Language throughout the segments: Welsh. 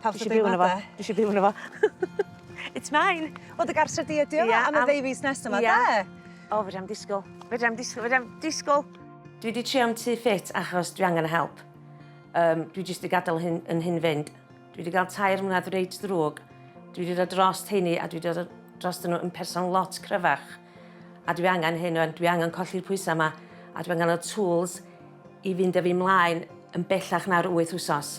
Pawb isio byw yno fo. Dwi isio byw yno fo. It's mine. Wel dy gartre di ydi o am y ddeu fis nesa 'ma 'de? O fedra i'm disgwl. Fedra i'm disgwl fedra i'm disgwl! Dwi 'di trio'n tŷ ffit achos dwi angen y help. Yym dwi jyst 'di gadel hyn yn hyn fynd. Dwi 'di ga'l tair mlynadd reit ddrwg. Dwi 'di dod drost rheiny a dwi 'di dod drostyn nhw yn person lot cryfach. A dwi angen hyn ŵan, dwi angen colli'r pwysa 'ma a dwi angen y tools i fynd â fi 'mlaen yn bellach na'r wyth wsos.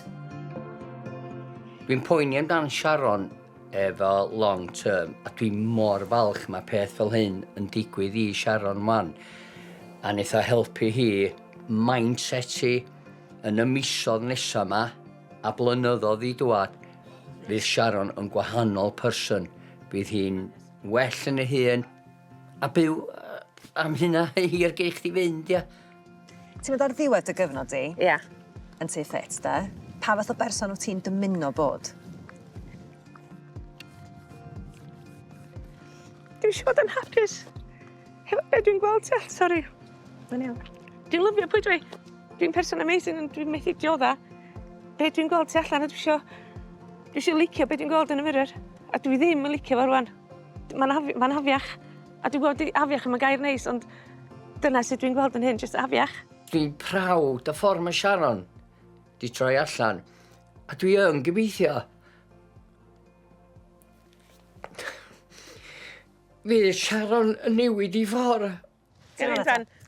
Dwi'n poeni amdan Sharon efo long term a dwi mor falch mae peth fel hyn yn digwydd i Sharon 'wan a neith o helpu hi mindset hi yn y misodd nesa 'ma a blynyddodd i dŵad fydd Sharon yn gwahanol person bydd hi'n well yn ei hun a byw am hynna hir gei chdi fynd ia. Ti'n mynd ar ddiwedd dy gyfnod di? Ie. Yeah. Yn tu ffit, da? Pa fath o berson wyt ti'n dymuno bod? Dwi'n eisiau bod yn hapus. Hefo be dwi'n gweld ti, sori. Mae'n iawn. Dwi'n lyfio pwy dwi. Dwi'n person amazing ond dwi'n methu diodda. Be dwi'n gweld ti allan a dwi eisiau... Dwi eisiau licio be dwi'n gweld yn y mirror. A dwi ddim yn licio fo rwan. Mae'n afiach. A dwi'n gweld di afiach ddim yn gair neis ond dyna sut dwi'n gweld yn hyn, jyst afiach. Dwi'n prawd y ffordd mae Sharon di troi allan a dwi yn gobeithio fydd Sharon yn newid i ffordd. Ti'n iawn eto?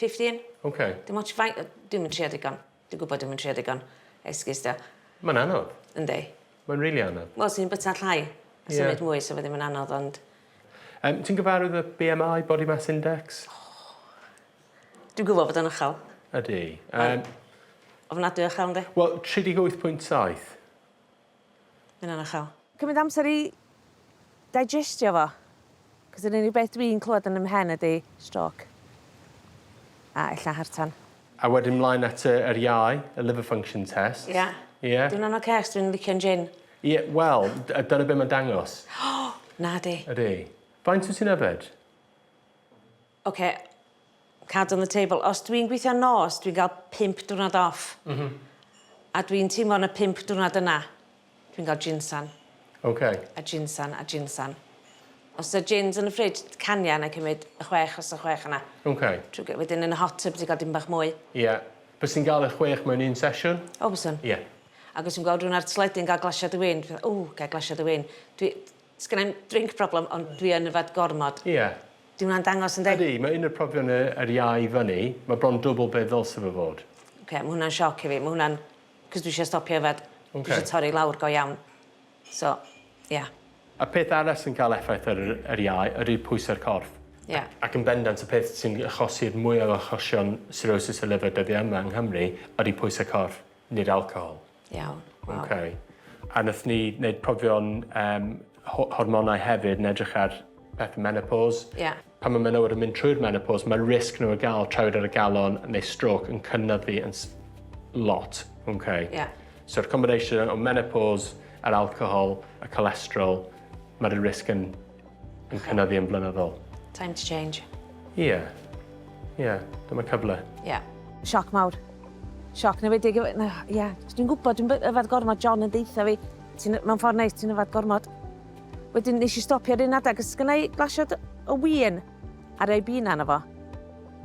Fifteen. Ok. Dim ots faint yy dwi'm yn trio digon. Dwi gwbod dwi'm yn trio digon. Esgus 'di o. Ma'n anodd. Yndi. Ma'n rili anodd. Wel swn i'n byta llai a... Ie. ...symud mwy sa fe ddim yn anodd ond... Yym ti'n gyfarwydd â BMI, body mass index? O! Dwi'n gwbo bod o'n ychal. Ydi. Yym. Mae'n ofnadwy o ychal yndi? Wel tri deg wyth pwynt saith. Ma' ynna'n uchel. Cymyd amser i digestio fo. 'C'os yr unig beth dwi'n clwad yn 'y mhen ydi stroke. A ella heart tan. A wedyn mlaen at y yr iau, y liver function tests. Ia. Ia? 'Di wnna'n ocê 'os dwi'n licio'n jin? Ie, wel, d- yy dyna be' ma'n dangos. Nadi. Ydi. Faint wt ti'n yfed? Oce card on the table os dwi'n gweithio nos dwi'n ga'l pump diwrnod off. M-hm. A dwi'n teimlo yn y pump diwrnod yna dwi'n ga'l jinsan. Oce. A jinsan a jinsan. Os odd jins yn y fridge d- caniau na'i cymyd y chwech os odd chwech yna. Oce. Trw gy- wedyn yn y hot tub ti ga'l dipyn bach mwy. Ie. Bysen ga'l y chwech mewn un sesiwn? O byswn. Ie. Ag os fi'n gweld rywun ar teledu yn ga'l glasiad o win dwi fatha ww gai glasiad o win. Dwi Sgynna i'm drink problem ond dwi yn yfed gormod. Ie. Dyw hwnna'n dangos yn de? Ydy, mae un o'r profion y yr iau i fyny, mae bron dwbl be' ddylse fo fod. Oce, ma' hwnna'n sioc i fi, ma' hwnna'n... 'C'os dwi isio stopio yfed. Oce. Dwi isio torri lawr go iawn. So, ie. Y peth arall sy'n ca'l effaith ar yr yr iau ydi pwyse'r corff. Ie. Ac yn bendant y peth sy'n achosi'r mwyaf o achosion cirrhosis y liver dyddie yma yng Nghymru ydi pwyse corff. Nid alcohol. Iawn. Waw. Okay. A nath ni neud profion yym ho- hormonau hefyd yn edrych ar pethe menopos. Ie. Pan ma' menywod yn mynd trwy'r menopos ma'r risg nhw o ga'l trawiad ar y galon neu strôc yn cynyddu yn s- lot. Okay. Ie. So'r combination o menopos a'r alcohol y cholesterol ma'r risg yn yn cynyddu yn blynyddol. Time to change. Ie. Yeah. Ie, yeah. dyma cyfle. Ie. Yeah. Sioc mawr. Sioc newedig. Ie, no, yeah. dwi'n gwybod, dwi'n yfad gormod, John yn deitha fi. Ti'n, mewn ffordd neis, ti'n yfad gormod. Wedyn nes i stopio ar un adeg, ys gynnau glasiad o wien ar ei bina yna fo.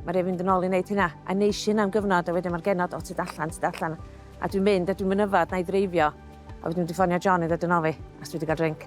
Mae rhaid fynd yn ôl i wneud hynna. A neis i hynna am gyfnod, a wedyn mae'r genod, o, ti dallan, ti dallan. A dwi'n mynd, a dwi'n mynd yfad, na i ddreifio. A wedyn dwi'n ffonio John i ddod yn ôl fi, a dwi wedi cael drink.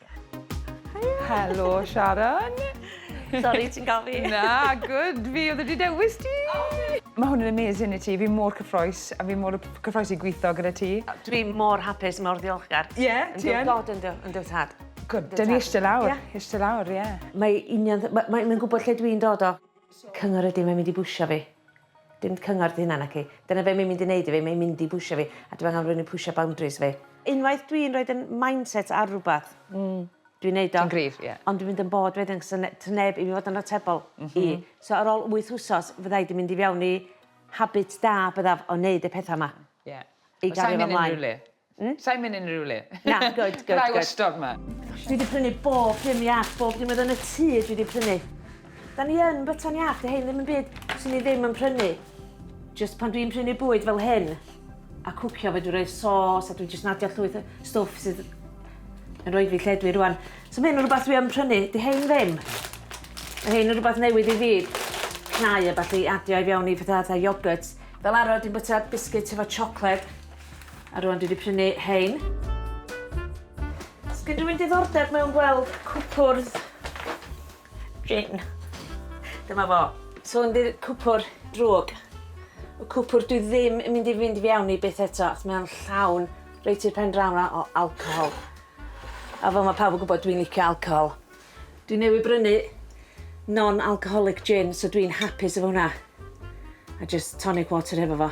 Helo, Sharon. Sorry, ti'n gael fi? Na, good. Fi oedd wedi dewis ti. Mae hwn yn amazing i ti. Fi mor cyffroes, a fi mor cyffroes i gweithio gyda ti. Dwi mor hapus, mor ddiolchgar. Ie, yeah, ti yn. God yn dy tad. Good, dyn ni eisiau lawr. Yeah. Eisiau lawr, ie. Yeah. Mae union... Mae'n gwybod lle dwi'n dod o. Cyngor ydi, mae'n mynd i bwsio fi. Dim cyngor dy hunan naci? Dyna be mae'n mynd i wneud i fi, mae'n mynd i bwsio fi a dwi angen rhywun i pwsio boundaries fi. Unwaith dwi'n rhoid 'yn mindset ar rwbath dwi'n neud o. Ti'n gryf, ie. Ond dwi'n mynd yn bored wedyn 'c'os ne- 'to neb i fi fod yn atebol i. So ar ôl wyth wsos fydda i 'di mynd i fewn i habit da byddaf o neud y petha 'ma. Ie. I gario fo mlaen. Hmm? Sa'n mynd unrhyw le. Na, good, good, good. Rai wastod ma. Dwi wedi prynu bob dim iach, bob dim oedd yn y tŷ dwi wedi prynu. Da ni yn byta'n iach, dy hyn ddim yn byd sy'n ni ddim yn prynu. Just pan dwi'n prynu bwyd fel hyn, a cwcio fe dwi'n rhoi sos, a dwi'n just nadio llwyth stwff sydd yn rhoi fi lle dwi rwan. So mae hyn yn rhywbeth dwi yn prynu, dy hyn ddim. Mae hyn yn rhywbeth newydd i fi, cnau a falle adio i fewn i fatha, fatha yoghurt. Fel arfer dwi'n byta biscuit efo chocolate, A rwan dwi wedi prynu hein. Sgyn rwy'n diddordeb mewn gweld cwpwrdd gin. Dyma fo. So yn ddydd cwpwr drwg. Y cwpwr dwi ddim yn mynd i fynd i fiawn i byth eto achos mae o'n llawn reit i'r pen draw na o alcohol. A fel mae pawb yn gwybod dwi'n licio alcohol. Dwi newydd brynu non-alcoholic gin so dwi'n hapus efo hwnna. A just tonic water hefo fo.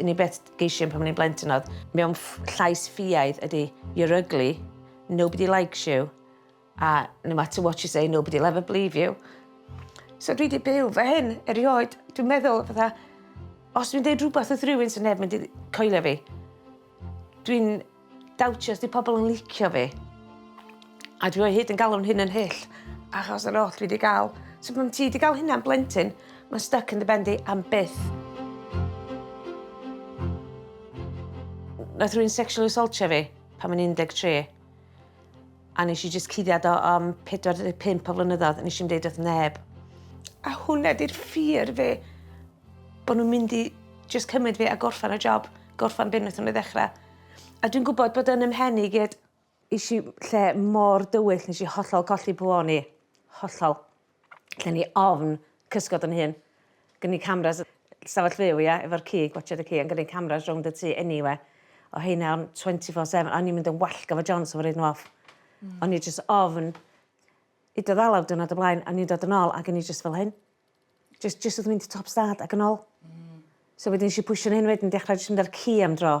Yn i beth geisio pan o'n i'n blentyn oedd, mewn llais ffiaidd ydy, you're ugly, nobody likes you, a no matter what you say, nobody will ever believe you. So dwi wedi byw fe hyn erioed. Dwi'n meddwl, fatha, os dwi'n deud rhywbeth wrth rhywun sy'n neb mynd i coelio fi. Dwi'n dawtio os 'di pobl yn licio fi. A dwi o hyd yn galw'n hyn yn hyll achos yr oll dwi 'di ga'l. So pan ti 'di ga'l hynna am blentyn ma'n styc yn dy ben di am byth. Nath rywun sexual assaultio fi pan o'n i'n un deg tri. A nes i jyst cuddiad o am 45 o flynyddoedd, nes i'm deud wrth neb. A hwnna di'r ffyr fe, bod nhw'n mynd i jyst cymryd fi a gorffan y job, gorffan beth wnaethon nhw ddechrau. A dwi'n gwybod bod yn ymhen i gyd, Is i lle mor dywyll, nes i hollol colli pw o'n i. Hollol. Lle ni ofn cysgod yn hun. Gen ni cameras stafell fyw ia efo'r cig watsiad y ci a gen ni cameras rownd y tŷ eniwe. O heina o'n 24 seven o'n i'n mynd yn wallgo efo John so fo roid n'w off. Hmm. O'n i jyst ofn hyd o ddalaw diwrnod o blaen o'n i'n dod yn ôl ag o'n i jyst fel hyn. Jyst jyst wrth mynd i top stad ag yn ôl. Hmm. So wedyn nesh i pwshio'n hyn wedyn dechra jyst mynd a'r ci am dro.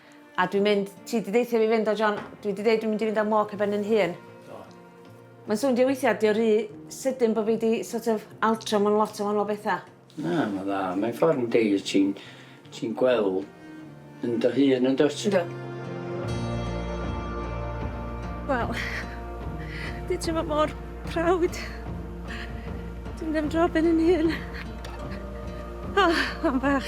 A dwi'n mynd, ti di deithio fi fynd o John, dwi di deud dwi'n mynd i fynd am walk ar ben yn hun. Do. Mae'n swn di weithiau, di o rhy sydyn bod fi di sort of altro mewn lot o wahanol bethau. Na, mae'n dda. Mae'n ffordd yn deir ti'n ti gweld yn dy hun yn dod. Do. Wel, di ti'n fod mor prawd. Dwi'n ddim dro ben yn hun. Oh, am bach.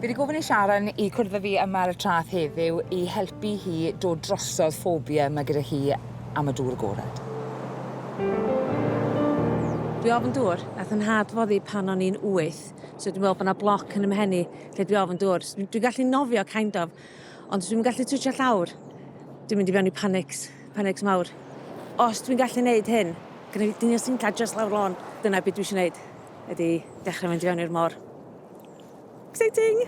Fi wedi gofyn i Sharon i cwrdd â fi yma ar y traeth heddiw i helpu hi dod drosodd ffobia mae gyda hi am y dŵr agored. Dwi ofn dŵr, nath 'y nhad foddi pan o'n i'n wyth, so dwi'n meddwl bod 'na bloc yn 'y mhen i lle dwi ofn dŵr. Dwi'n gallu nofio kind of, ond dwi'm yn gallu twtsio llawr. Dwi'n mynd i fewn i panics. Panicks mawr. Os dwi'n gallu neud hyn, gyda fi dyn o sinca just lawr lôn, dyna beth dwi eisiau neud, ydy dechrau mynd i fewn i'r môr. Exciting!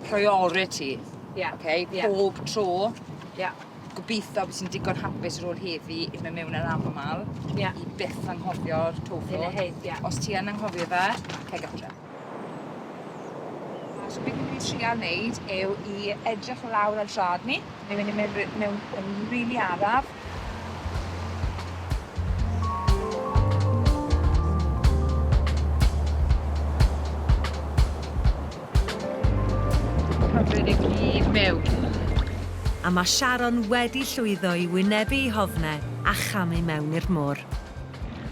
Priority. Ie. Yeah. Okay? Yeah. Pob tro. Ie. Yeah. Gobeithio bys i'n digon hapus ar ôl heddi i mynd mewn ar aml. Ie. Yeah. I byth anghofio'r tofod. Yn y hyd, ie. Yeah. Os ti yn anghofio fe, ceg adre. So beth ni'n mynd i trial neud yw i edrych lawr ar drad ni. Ni'n mynd i mynd ry- mewn yn rili araf. Cymryd e gyd mewn. A ma' Sharon wedi llwyddo i wynebu 'i hofne a chamu mewn i'r môr.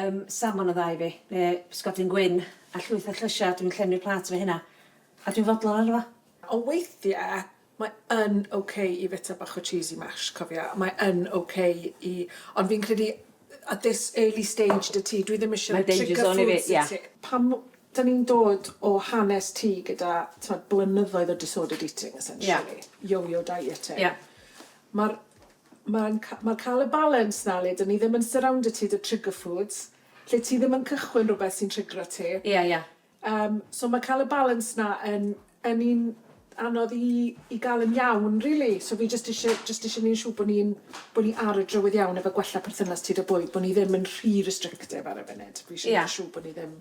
Ym Samon o'dd dau fi. Ne' pysgodyn gwyn a llwyth o llysia, dwi'n llenwi'r plât efo hynna. A dwi'n fodlon arno fo. Ond weithie mae yn ok i fita bach o cheesy mash, cofia, mae yn ok i... Ond fi'n credu at this early stage 'da ti, dwi ddim isie rhoi trigger foods i ti. Pan 'da ni'n dod o hanes ti gyda t'mod blynyddoedd o disordered eating essentially, yo-yo dieting, ma'r Mae'n mae'n cael y balance 'na le 'dyn ni ddim yn surrounder ti 'da trigger foods, lle ti ddim yn cychwyn rhywbeth sy'n trigro ti. Ie, ie. Yym, so mae cael y balance 'na yn yn un anodd i i gael yn iawn rili. So fi jyst isie jyst isie neud yn siŵr bo' ni'n bo' ni ar y drywydd iawn efo gwella perthynas ti 'da bwyd, bo' ni ddim yn rhy restrictive ar y funud. Fi isie... Ie. ...neud yn siŵr bo' ni ddim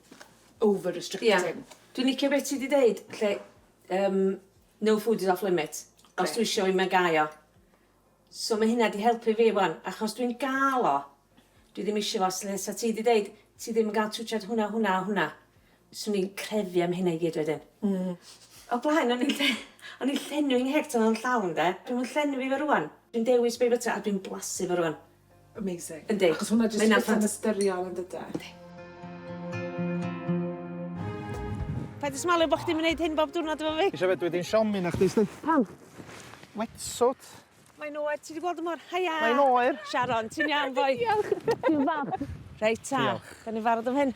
over restricting. Ie. Dwi'n licio be' ti 'di deud lle yym no food is off limits. Grêt. Os dwi isio 'i mae gai o. So ma' hynna 'di helpu fi 'wan, achos dwi'n ga'l o. Dwi ddim isio fo, sle- sa ti 'di deud ti ddim yn ga'l twtshad hwnna, hwnna a hwnna, swn i'n crefu am hynna i gyd wedyn. Hmm. O blaen o'n i'n lle- o'n i'n llenwi ngheg tan o'n llawn 'de. Dwi'm yn llenwi fe rŵan. Dwi'n dewis be' fita a dwi'n blasu fo rŵan. Amazing. Yndi. Achos hwnna jyst yn ffant... ystyriol yn dyde? Yndi. Paid â smalio bod chdi'n mynd neud hyn bob diwrnod efo fi. Isio fe dwi di'n siomi na chdi sti. Pam? Wetsuit. Mae'n oer, ti wedi gweld y môr? Haia! Mae'n oer! Sharon, ti'n iawn boi? Diolch. Ti'n fab. Reit ta. Diolch. Da ni'n barod am hyn.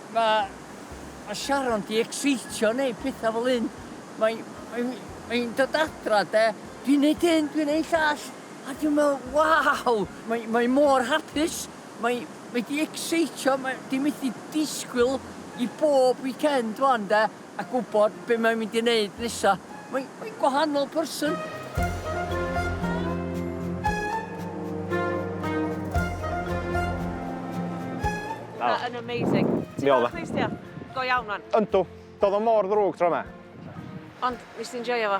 Mae mae Sharon 'di ecseitio neu pethau fel hyn. Mae mae mae'n dod adra de, dwi'n neud hyn, dwi'n neud llall, a dwi'n meddwl, waw! Mae mae mor hapus, mae mae 'di ecseitio, mae 'di methu disgwyl i bob weekend wan de. A gwybod be mae'n mynd i wneud nesa. Mae, mae'n gwahanol person. Mae oh. yn amazing. Ti'n cael clustio? Go iawn man. Yndw. Doedd o mor ddrwg tro yma. Ond, nes ti'n joio fo?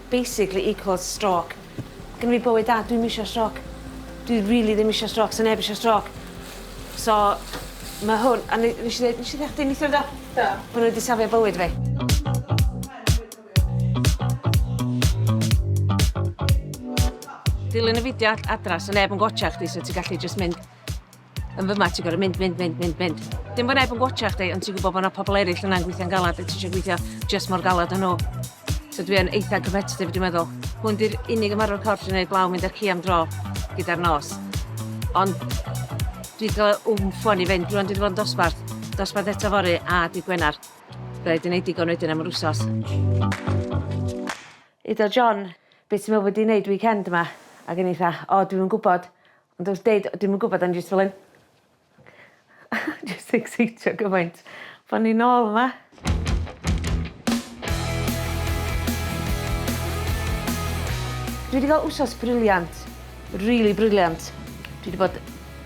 Basically equals stroc. Gynna fi bywyd da, dwi'm isio stroc. Dwi rili ddim isio stroc, sa neb isio stroc. So ma' hwn, a ne- nesh i ddeud nesh i deu' chdi neithiwr do? Do. Bo' n'w wedi safio bywyd fi. Dilyn y fideo ad- adra so neb yn gwatsiad chdi so ti gallu jyst mynd Yn fy ma, ti'n gorau mynd, mynd, mynd, mynd, mynd. Dim bod neb yn gwachio chdi, ond ti'n gwybod bod yna pobl eraill yna'n gweithio'n galad a ti eisiau gweithio just mor galad yn nhw. So dwi yn eitha competitive, dwi'n meddwl. Hwn di'r unig ymarfer corff sy'n gwneud blaw mynd ar ci am dro gyda'r nos. Ond dwi wedi cael wm ffon i fynd, rwan dwi wedi bod yn dosbarth, dosbarth eto fori a di Gwener. Byddai di wneud digon wedyn am yr wsos. Iddo John, beth ti'n meddwl bod i'n neud weekend yma? Ac yn eitha, o, dwi'n yn gwybod, Ond os deud dwi'm yn gwbod o'n i jyst fel 'yn jyst ecseitio gymaint bo' ni nôl yma. Dwi 'di ga'l wsos briliant. Rili briliant. Dwi 'di bod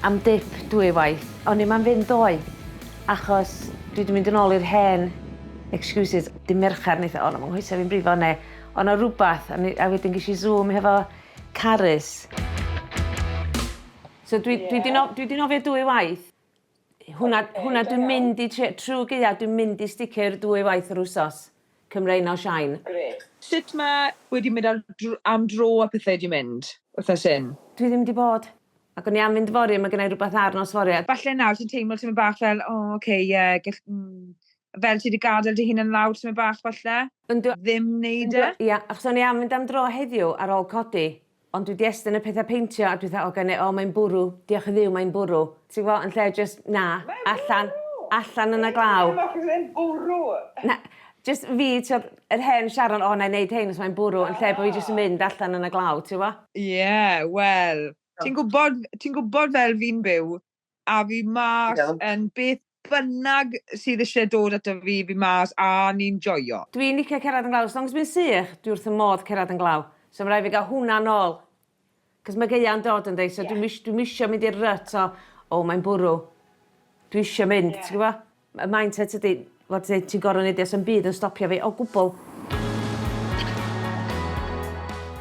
am dip dwy waith. O'n i'm am fynd ddoe achos dwi 'di mynd yn ôl i'r hen excuses. Dy' Merchar neith o o na ma' 'nghoesa fi'n brifo ne' o' 'na rwbath a ne- a wedyn gesh i Zoom hefo Carys. So dwi, dwi di, no, dwi di nofio dwy waith. Hwna, okay, hwna dwi'n mynd i, trwy gyda, dwi'n mynd i sticio'r dwy waith yr wsos. Cymrein o Shine. Gret. Sut mae wedi mynd am, am dro a pethau wedi mynd, wrth nes hyn? Dwi ddim wedi bod. Ac o'n i am fynd fori, mae gennau rhywbeth ar nos fori. Falle nawr ti'n teimlo ti'n mynd bach fel, o, oh, oce, okay, ie, yeah, gall... Mm. fel ti wedi gadael dy hun yn lawr tymed bach falle. Yndw. Ddim neud e. Ia achos o'n i am mynd am dro heddiw ar ôl codi ond dwi 'di estyn y petha peintio a dwetha o gene o mae'n bwrw diolch i Dduw mae'n bwrw ti'n gwbo yn lle jyst na allan allan yn y glaw. Mae bwrw! Mae'n bwrw! Na jyst fi t'od yr hen Sharon o 'nai neud hein os mae'n bwrw yn lle bo' fi jyst yn mynd allan yn y glaw ti wbo? Ie wel ti'n gwbod ti'n gwbod fel fi'n byw a fi mas... Iawn. ...yn beth bynnag sydd isie dod ato fi, fi mas a ni'n joio. Dwi'n licio cerdded yn glaw, as long as mae'n sych, dwi wrth fy modd cerdded yn glaw. So ma' raid fi gael hwnna nôl. Cos ma' gaea'n dod yndi, so dwi'm is- dwi'm isio mynd i'r rut o, o mae'n bwrw. Dwi isio mynd, ti'n gwbo? Y mindset ydy fod ti ti'n gor'o' neud 'o's 'im byd yn stopio fi o gwbwl.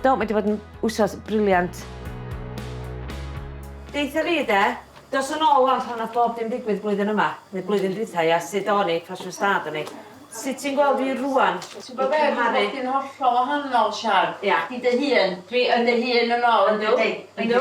Do mae 'di bod yn wsos brilliant. Deutha fi de, dos yn ôl wan pan nath bob dim digwydd blwyddyn yma, neu blwyddyn dwytha ia, sut o'n i, pa shwd stad o'n i. Sut ti'n gweld fi rŵan? Ti'n gwbo be' ma' bob dim hollol wahanol Sian. Ia. Chdi dy hun. Dwi yn dy hun yn ôl yndw? Yndi. Yndw.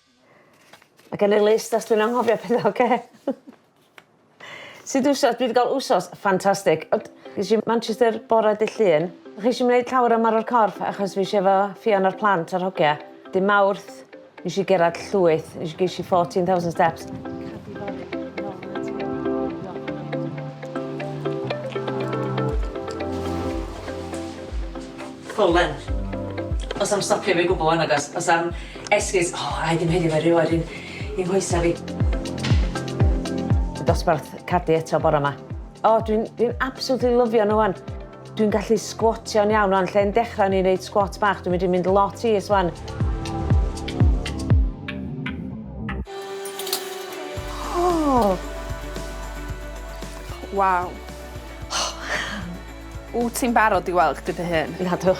Ma' gen i list os dwi'n anghofio petha oce? Sud wsos dwi 'di ga'l wsos ffantastig ond es i Manchester bore dy' Llun. O' chi isio neud llawer o ymarfer corff achos fi isio efo Ffion a'r plant a'r hogia. Dy' Mawrth nesh i gerad llwyth nesh i gesh i fourteen thousand steps. Ffwlen. Do's 'a'm stopio fi o gwbwl 'wan nagos? Do's 'a'm Esgus, O, a i ddim heddiw fe ryw ar un i nghoesa fi. Y dosbarth cadi eto bore ma. O, dwi'n dwi absolutely lyfio nhw wan. Dwi'n gallu sgwotio'n iawn wan, lle'n dechrau ni'n reid sgwot bach, dwi'n mynd i'n mynd lot i is wan. Waw. Wyt ti'n barod i weld chdi dy hun? Nadw.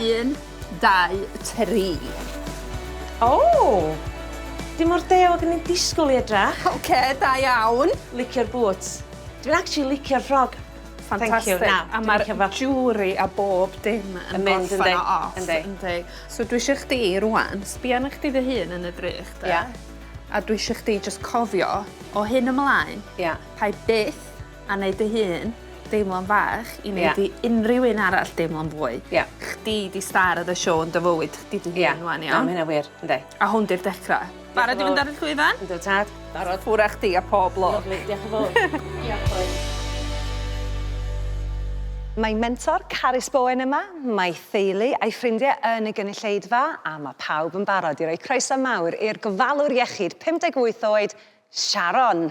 Un. dau, tri. O! Dim mor deo ag o'n i'n disgwyl i edrach. Oce, da iawn. Licio'r boots. Dwi'n actually licio'r ffrog. Fantastic. Thank you. Na, a mae'r jewelry a bob dim yn mynd yn deg. Yndi. Yndi. So dwi eisiau chdi rwan, sbio arna chdi dy hun yn y drych, de? Ia. A dwi eisiau chdi jyst cofio, o hyn ymlaen, Ia. pa i byth A neud dy hun deimlo'n fach i neud i unrhyw un arall deimlo'n fwy. Ia. Chdi 'di star of the show yn dy fywyd chdi dy hun ŵan iawn? Ia, na ma' hynna wir, yndi. A hwn 'di'r dechra. Barod i fynd ar y llwyfan? Yndw tad. Barod. Ffwr â chdi a pob lwc. Lyfli, diolch yn fowr. Diolch bois. Mae mentor Carys Bowen yma, mae theulu a'i ffrindie yn y gynulleidfa a ma' pawb yn barod i roi croeso mawr i'r gofalwr iechyd 58 oed, Sharon.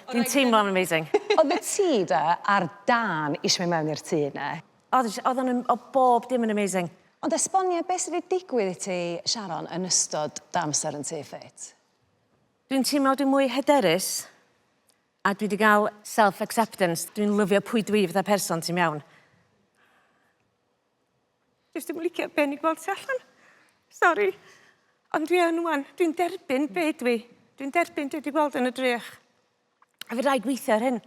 Dwi'n teimlo'n amazing. Oddet ti 'da ar dân isio myn' mewn i'r tŷ 'ne? Odd sh- odd o'n yn o' bob dim yn amazing. Ond esbonia be' sy' 'di digwydd i ti Sharon yn ystod dy amser yn tŷ ffit? Dwi'n teimlo dwi mwy hyderus a dwi 'di ga'l self acceptance dwi'n lyfio pwy dwi fatha person ti'n iawn. Dwi ddim yn licio be' o'n i gweld tu allan. Sori. Ond dwi yn ŵan. Dwi'n derbyn be' dwi. Dwi'n derbyn dwi 'di gweld yn y drych. A fedra i gweithio ar hyn.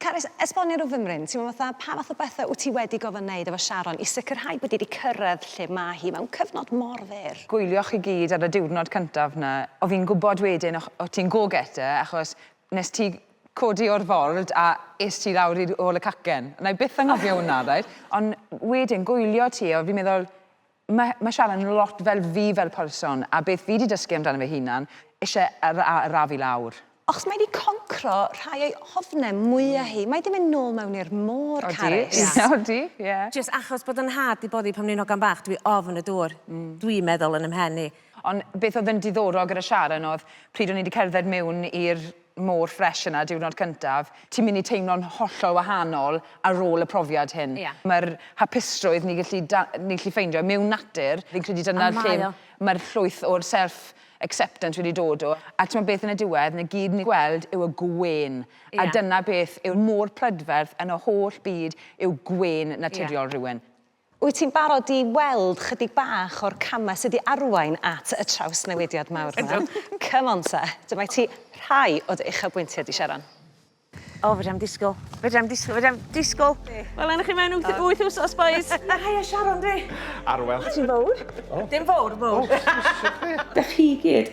Carys, esbonia rw fymryn, timlo fatha pa fath o bethe wt ti wedi gorfod neud efo Sharon i sicrhau bod 'i 'di cyrraedd lle ma' hi mewn cyfnod mor fyr? Gwylioch chi gyd ar y diwrnod cyntaf 'na, o fi'n gwbod wedyn o' o' ti'n go getter achos Nes ti codi o'r ford a es ti lawr i'r ôl y cacen. Wna i byth anghofio hwnna, reit? Ond wedyn, gwylio ti, o, fi'n meddwl, mae, mae Sharon yn lot fel fi fel person, a beth fi 'di dysgu amdano fy hunan, isie ar- a- arafu lawr. Achos mae 'di concro rhai o'i ofne mwya hi. Mae 'di mynd nôl mewn i'r môr, Carys. Odi, ie, odi, ie. Jyst achos bod 'yn nhad 'di boddi pan o'n i'n hogan bach, dwi ofn y dŵr. Dwi'n meddwl yn 'y mhen i. Ond beth oedd yn diddorol gyda Sharon oedd pryd o'n i 'di cerdded mewn i'r môr ffresh yna diwrnod cyntaf, ti'n mynd i teimlo'n hollol wahanol ar ôl y profiad hyn. Ie. Mae'r hapusrwydd ni'n gallu da- ni'n gallu ffeindio mewn natur, fi'n credu dyna lle... A mae o. ...mae'r llwyth o'r self acceptance wedi dod o. A timod beth yn y diwedd, 'na gyd ni'n gweld yw y gwên. Ie. A dyna beth yw'r môr prydferth yn y holl byd yw gwên naturiol... Ie. ...rhywun. Wyt ti'n barod i weld chydig bach o'r camau sydd i arwain at y trawsnewidiad mawr yma? Ydw. Come on te. Dyma i ti rhai o dy uchafbwyntiau di, Sharon. O, fedrai'm disgwyl. Fedrai'm disgwyl, fedrai'm disgwyl. Wela i chi mewn wyth, wyth wsos, bois. Haia, Sharon dwi. Arwel. Ti'n fowr. Dim fowr, fowr. Dach chi gyd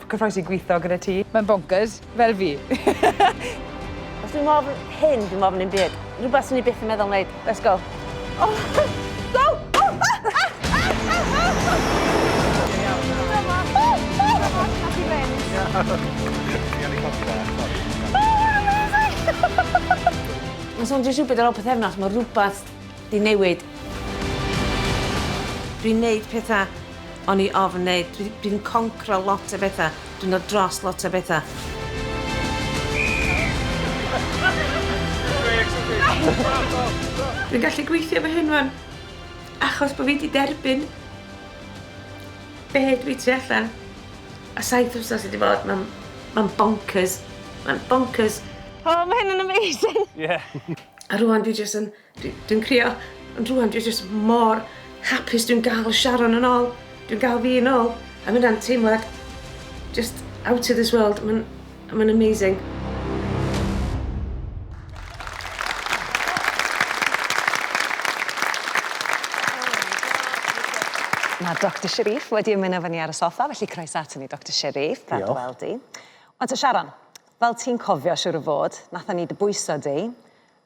Cyffroes i gwitho gyda ti. Mae'n bonkers, fel fi. Os dwi'n ofn hyn, dwi'n ofn un byd. Rhywbeth sy'n ni byth yn meddwl wneud. Let's go. Oh. Mae'n swnio jyst rhywbeth ar ôl pythefnos, mae rhywbeth Di newid. Dwi'n neud petha o'n i ofn neud. Dwi dwi'n concro lot o betha. Dwi'n dod dros lot o betha. Dwi'n gallu gweithio fy hyn wan achos bo fi di derbyn be dwi tu allan a saith wsos sy di bod ma'n ma'n bonkers ma'n bonkers. O ma hyn yn amazing! Ie. A rŵan dwi jyst yn Dwi, dwi'n crio, ond rwan dwi jyst mor hapus dwi'n gael Sharon yn ôl. Dwi'n gael fi yn ôl. A mae hynna'n teimlad just out of this world. Mae'n ma amazing. Mae Dr Sharif wedi ymuno fy ni ar y soffa, felly croeso ato ni, Dr Sharif. Diolch. Diolch. Wel di. Ond te Sharon, fel ti'n cofio siwr o fod, nathon ni dy bwyso di,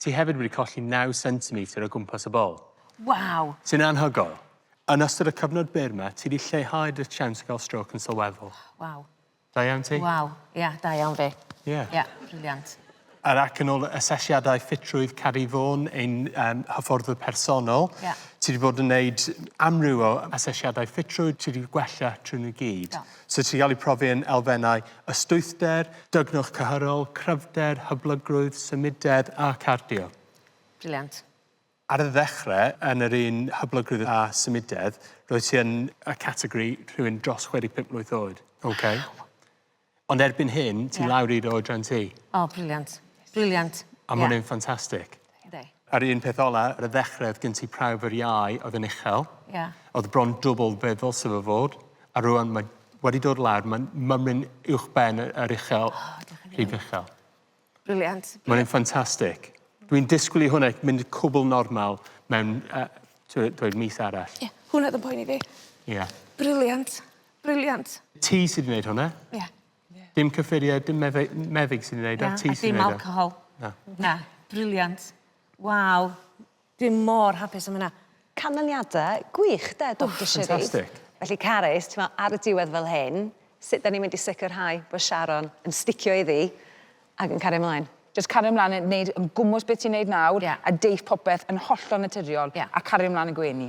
Ti hefyd wedi colli naw centimetr o gwmpas y bol. Waw! Sy'n anhygoel. Yn ystod y cyfnod byr 'ma, ti 'di lleihau dy siawns o gael strôc yn sylweddol. Waw. Da iawn ti. Waw, ia, da iawn fi. Ie. Ia, briliant. Yr ac yn ôl y asesiadau ffitrwydd Cari Vaughan, ein um, hyfforddwr personol, yeah. ti wedi bod yn gwneud amryw o asesiadau ffitrwydd, ti wedi gwella trwy nhw gyd. Yeah. Sut sy'n cael eu profi yn elfennau ystwythder, dygnwch cyhyrol, cryfder, hyblygrwydd, symudedd a cardio. Briliant. Ar y ddechrau, yn yr un hyblygrwydd a symudedd, roedd ti yn y categori rhywun dros 65 mlwydd oed. Ok. Waw! Ond erbyn hyn, ti lawr i dy oedran ti. O, briliant. Briliant. A ma' hwnna'n ffantastig. Yndi. A'r un peth ola ar y ddechre o'dd gen ti prawf yr iau o'dd yn uchel. Ia. O'dd bron dwbwl be' ddylse fo fod a rŵan mae wedi dod lawr ma'n mymryn uwch ben yy yr uchel. O diolch yn fawr. Rhif uchel. Brilliant. Mae e'n ffantastic. Dwi'n disgwl i hwnna mynd yn cwbwl normal mewn yy t'wo' dweud mis arall. Ie. Hwnna o'dd yn poeni fi. Ia. Brilliant. Brilliant. Ti sy 'di neud hwnna. Ia. Ie. Dim cyffurie dim medde- m- meddyg sy'n 'i neud o ti sy'n neud o. Na a dim alcohol. Na. Na. Brilliant. Waw. Dwi mor hapus am wnna. Canlyniada gwych 'de Doctor Siris? O ffantastic. Felly Carys t'mo' ar y diwedd fel hyn sut 'dan ni mynd i sicirhau bo' Sharon yn sticio iddi ag yn cario mlaen? Jyst cario mlan yn neud yn gwmws beth ti'n neud nawr... Ie. ...a deith popeth yn hollol naturiol... Ie. ...a cario mlan y gwenu.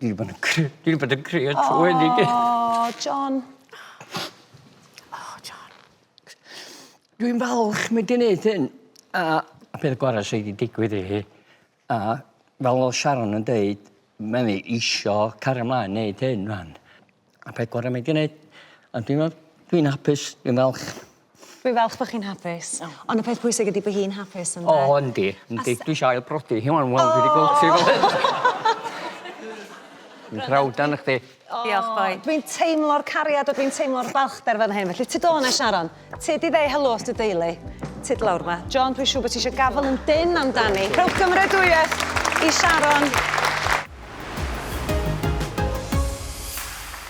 Dwi 'di bod yn cry- dwi 'di bod yn crio trwy 'wn i gyd. O John. O John. Dwi'n falch mae 'di neud hyn a y peth gora' sy 'di digwydd i hi a fel o'dd Sharon yn deud ma' 'i isio cario mlaen neud hyn rŵan. A peth gore mae 'di neud. A dwi me'wl dwi'n hapus dwi'n falch. Dwi falch bo' chi'n hapus. O. On' y peth pwysig ydi bo' hi'n hapus ynde? O yndi yndi. A sa- dwi isio ail brodi hi ŵan wel dwi 'di gweld hi fel hyn. Dwi'n prowd arnoch chdi. Diolch boi. Dwi'n teimlo'r cariad a dwi'n teimlo'r balchder fan hyn felly tyd o 'na Sharon. Ti di ddeud helo wrth dy deulu. Ti di lawr ma. John, dwi'n siŵr bod ti eisiau gafel yn dyn amdani. Rhowch gymredwyeth i Sharon.